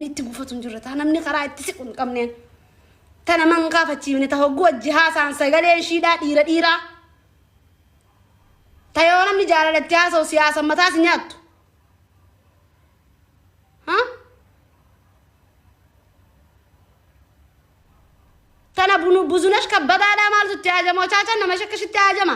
itti gufatu hin jirre taa namni karaa itti siqu hin qabneen ta nama hin kaafachiifne ta hogguu wajji haasaan sagalee ishiidhaa dhiira dhiiraa ta yoo namni jaalala itti haasa'u siyaasa mataas hin nyaattu ha tana bunu buzunash kabbadaadhaa maaltu itti haajama ochaachan nama shakkashitti haajama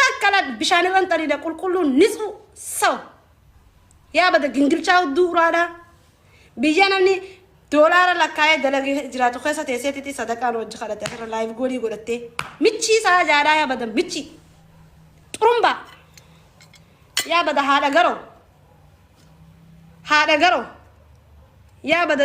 Takka lak bishaan irra hin xariidha qulqulluun nitsu saw. Yaa bada gingilchaa hudduu uraadhaa. Biyya namni doolaara lakkaa'ee dalagee jiraatu keessa teessee titi sadaqaan wajji kadhate asirra laayiv goolii godhattee. Michii isaa jaadhaa yaa bada michii. Xurumbaa. Yaa bada haadha garoo. Haadha garoo. Yaa bada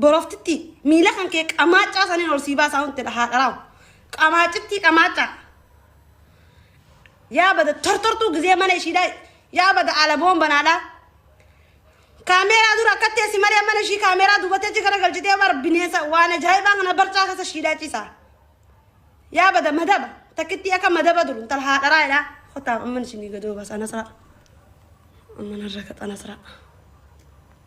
Boroftittii miila kan kee qamaaccaa saniin ol sii baasaa huntedha haadharaaw. Qamaaccittii qamaaccaa. Yaa bada tortortuu gizee mana ishiidhaa yaa bada alaboon banaadhaa. Kaameeraa dura akka teessi malee mana ishii kaameeraa dubatee achi gara galchitee bar bineensa waan ajaa'ibaa kana barcaa keessa ishiidhaa ciisaa. Yaa bada madaba takkittii akka madaba duru intala haadharaa jedhaa. Kotaa amman isinii gadoo baasaa nasraa. Amman harra kaxa nasraa.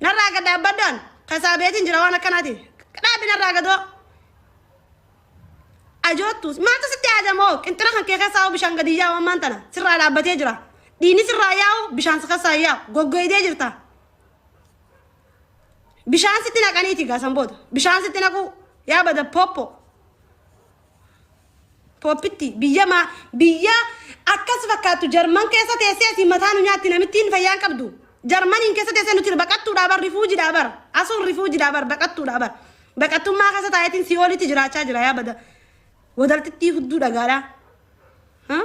Narraa gad dhaabbadhu an kasaa beetiin jira waan akkanaati. Dhaabbi narraa gadoo. Ajoottu maaltu sitti ajamoo qinxira kan kee keessaa bishaan gadi yaa'u ammaan tana sirraa dhaabbatee jira. Dhiini sirraa yaa'u bishaan si keessaa yaa'u goggoydee jirta. Bishaan sitti naqaniiti gaasan booda bishaan sitti naquu yaa bada poppo. Pooppitti biyya maa biyya akkas fakkaattu jarman keessa teessee asiin mataa nu nyaatti namittiin fayyaan qabdu. Jarmaniin keessa teessee nuti baqattuudhaa bar rifuujidhaa bar asuun rifuujidhaa bar baqattuudhaa bar baqattummaa keessa taa'eetiin si oolitti jiraachaa jira yaa bada wadaltittii hudduu dhagaadhaa. Huh?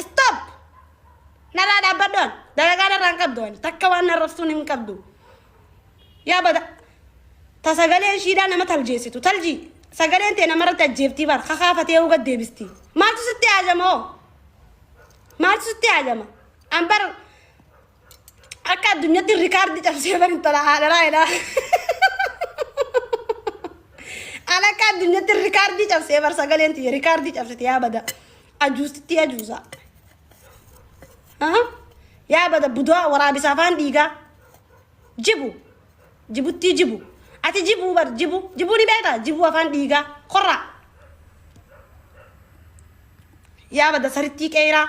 Stop! Narraa dhaabbadhu an. Dalagaa narraa hin qabdu ani. Takka waan narrabsuun hin qabdu. Yaa bada. Ta sagalee ishiidhaa nama taljeessitu. Taljii. Sagaleen tee namarratti ajjeeftii bar. Kakaafatee hoo gad deebisti. Maaltu sitti haajama hoo? Maaltu sitti haajama? An bar Akka addunyatti rikaardi cabsee bar intala haadharaa jedhaa. An akka addunyatti rikaardii cabsee bar sagaleen tiyya rikaardii cabsite yaa bada. Ajuustitti ajuusa. Aha. Yaa bada budaa waraabisa afaan dhiigaa. Jibu. Jibuttii jibu. Ati jibuu bar jibu. Jibuu ni beektaa? Jibuu afaan dhiigaa. Korraa. Yaa bada sarittii qeeraa.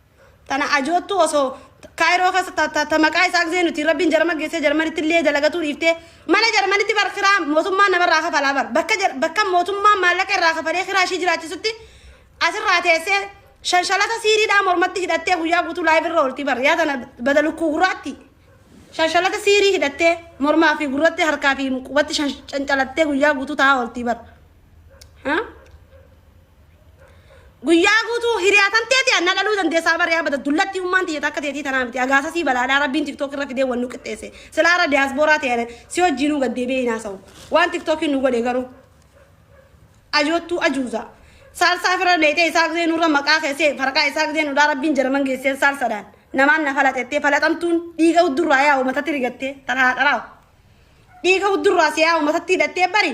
Tana ajoottuu osoo kaayiroo keessa ta, ta, ta maqaa isaa gisee nuti rabbiin jarman geessee jarmanitti illee dalagatuu dhiiftee mana jarmanitti bar kiraa mootummaan namarraa kafalaa bar bakka, jar, bakka mootummaan maallaqa irraa kafalee kiraa ishii jiraachisutti asirraa teessee shanshalata siiriidhaa mormatti hidhattee guyyaa guutuu laayiv irra oolti bar yaa tana bada lukkuu gurraatti shanshalata siirii hidhattee mormaa fi gurratti harkaa fi qubatti shan- cancalattee guyyaa guutuu taa'aa oolti bar. Ha? Guyyaa guutuu hiriyaatan teeti anna dhaluu dandeessaa bara yaa bada dullattii ummaan tiyya takka teetii tanaa miti agaasa sii balaadhaa rabbiin tiktook irra fidee wannu qixxeesse silaa irra diyaasbooraa ta'e si wajjiinuu gad deebi'ee hin haasa'u waan tiktookiin nu godhe garuu ajoottuu ajuuza saalsaa fira leexee isaa gizee nurra maqaa keessee farqaa isaa gizee nudhaa rabbiin jaraman geesseen saalsadhaan namaan na falaxettee falaxamtuun dhiiga huddurraa yaa uumatatti rigattee tanaa haadharaawu dhiiga huddurraa si yaa uumatatti hidhattee bari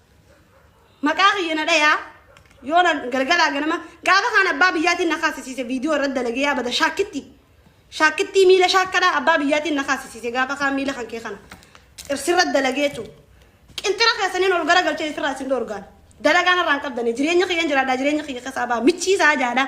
Maqaa kiyya na dhayaa. Yoo na galgalaa ganama gaafa kaan abbaa biyyaatiin na kaasisiise viidiyoo irratti dalagee yaa bada shaakkitti. Shaakkittii miila shaakkadhaa abbaa biyyaatiin na kaasisiise gaafa kaan miila kan kee kana. Irsirratti dalagee jechuudha. Qinxira keessaniin ol gara galchee isirraa isin dhoorgaan. Dalagaa narraan qabdanii jireenya kiyyan jiraadhaa jireenya kiyya keessaa baa michiisaa jaadhaa.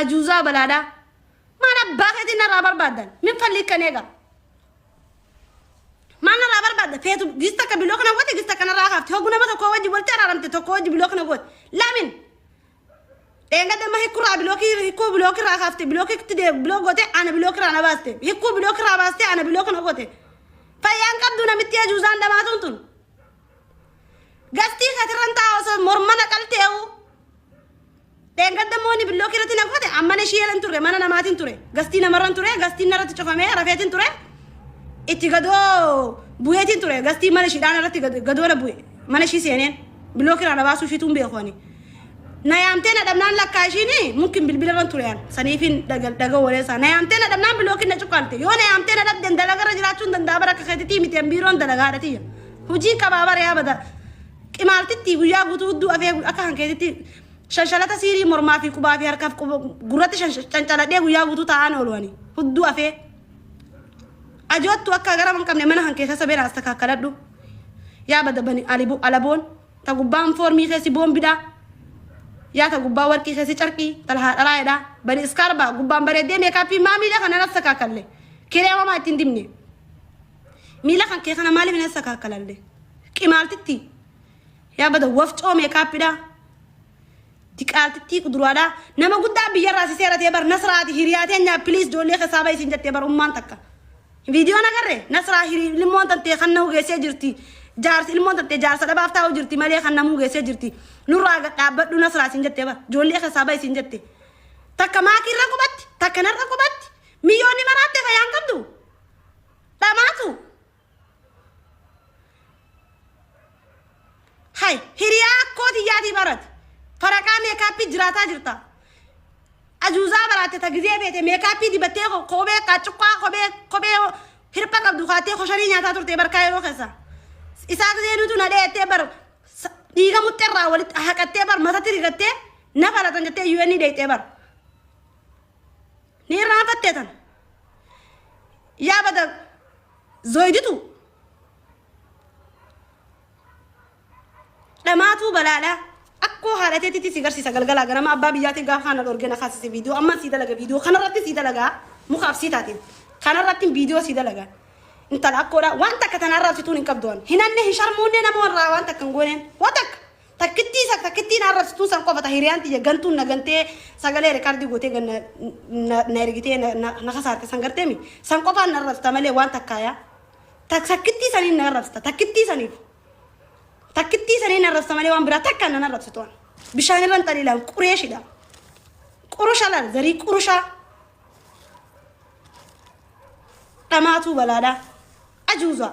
Ajuuzaa balaadhaa. Maal abbaa keetiin narraa barbaaddan? Min fallii kan eega. Maal narraa barbaadda? Feetu gis takka biloo kana goote gis takka narraa kaafte. Hoggu nama tokko wajji walitti araaramte tokko wajji biloo kana goote. Lamin? Dheenga damma hikkurraa bilookii hikkuu bilookirraa kaafte bilookitti dee biloo goote ana bilookirraa na baaste. Hikkuu bilookirraa baaste ana biloo kana goote. Fayyaan qabdu namitti ajuuzaan dhamaatuun tun. Gastii katirran taa'aa osoo mormana qaltee'uu. Dheengadda immoo inni billookii irratti na goote an mana ishii jalan turre mana namaatiin ture gastii namarran ture gastiin narratti cufamee rafeetiin ture itti gadoo bu'eetiin ture gastii mana ishiidhaan irratti gad- gadoo na bu'e mana ishii seeneen billookii irraa na baasuu ishiituun beeku ani. Na yaamtee na dhabnaan lakkaa ishiin mukkin bilbila irran ture an saniifiin dhaga dhaga waleessaa na yaamtee na dhabnaan bilookiin na cuqqaalte yoo na yaamtee na dhabden dalagarra jiraachuun danda'a bara akka keetitii miti an biiroon dalagaadha tiyya hojii qabaa bara yaa bada Qimaaltittii guyyaa guutuu hudduu afee akka kan keetitti shanshalata siirii mormaa fi qubaa fi harkaaf gurratti cancaladhee guyyaa guutuu taa'aan oolu ani hudduu afee ajoottu akka gara hin qabne mana kan keessa sabeen as takkaakkaladhu yaa bada bani alibu alaboon ta gubbaan foormii keessi boombidhaa yaa ta gubbaa warqii keessi carqii talhaa dhalaayedhaa bani iskaarbaa gubbaan bareeddee meekaappii maamiidha kana nas takkaakkalle kireemamaa ittiin dibne Miila kan kee kana maaliif hin sakaakkalanne? Qimaaltitti. Yaa bada wafcoo meekaappidhaa. Diqaaltittii quduraadhaa. Nama guddaa biyyarraa si seeratee bar nasraati hiriyaa teenyaa piliis ijoollee keessaa bahi isin jettee bar ummaan takka. Viidiyoon agarre nasraa hiri ilmoon tantee kan nahu geessee jirti. Jaarsi ilmoon tantee jaarsa dhabaaf taa'u jirti malee kan namuu geessee jirti. Nurraa gad dhaabbadhu nasraa isin jettee bar ijoollee keessaa bahi isin jette. Takka maakiirra qubatti takka narra qubatti miyyoonni maraattee fayyaan qabdu. dhamaatu hay hiriyaa akkoo tiyyaatii barate faraqaa meekaappii jiraataa jirta ajuuzaa baraatte ta gizee feete meekaappii dibattee ko- kophee qaaccuqqaa kophee kophee hirpha qabdu kaattee kosharii nyaataa turte barkaa yeroo keessa isaa gizee nutu na dheettee bar sa- dhiiga muxxerraa walitti haqattee bar matatti rigattee na falatan jettee UN dheettee bar Ni irraanfattee tan. Yaa bada zoiditu. Dhamaatuu balaadha. Akkoo haadha teetitti si garsiisa galgalaa ganama abbaa biyyaatiin gaafa kana dhorgee na kaasise viidiyoo amman sii dalaga viidiyoo kanarratti sii dalagaa muka absii taatiin kanarratti viidiyoo sii dalagaa intala akkoodha waan takka tanaa irraa absituun hin qabdu waan hin hanne hin sharmuunne nama warraa waan takka hin gooneen waan takka Takkittii isa takkittiin arrabsituu san qofa ta hiriyaan tiyya gantuun na gantee sagalee rekaardii gootee ganna na na ergitee na na na kasaarte san garteemi san qofaan na arrabsita malee waan takkaayaa tak takkittii saniin na arrabsita takkittii saniif takkittii saniin na arrabsita malee waan biraa takkaan na arrabsitu an bishaan irra hin xaliilaan qureeshidha qurusha laal zarii qurushaa dhamaatuu balaadhaa ajuuzaa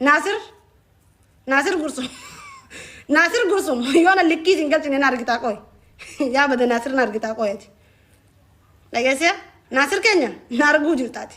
Naasir Naasir Gursum Naasir Gursum yoona likkii isin galchine na argitaa qoy yaa bada Naasir na argitaa qoyati dhageessee Naasir keenya na arguu jirtaati.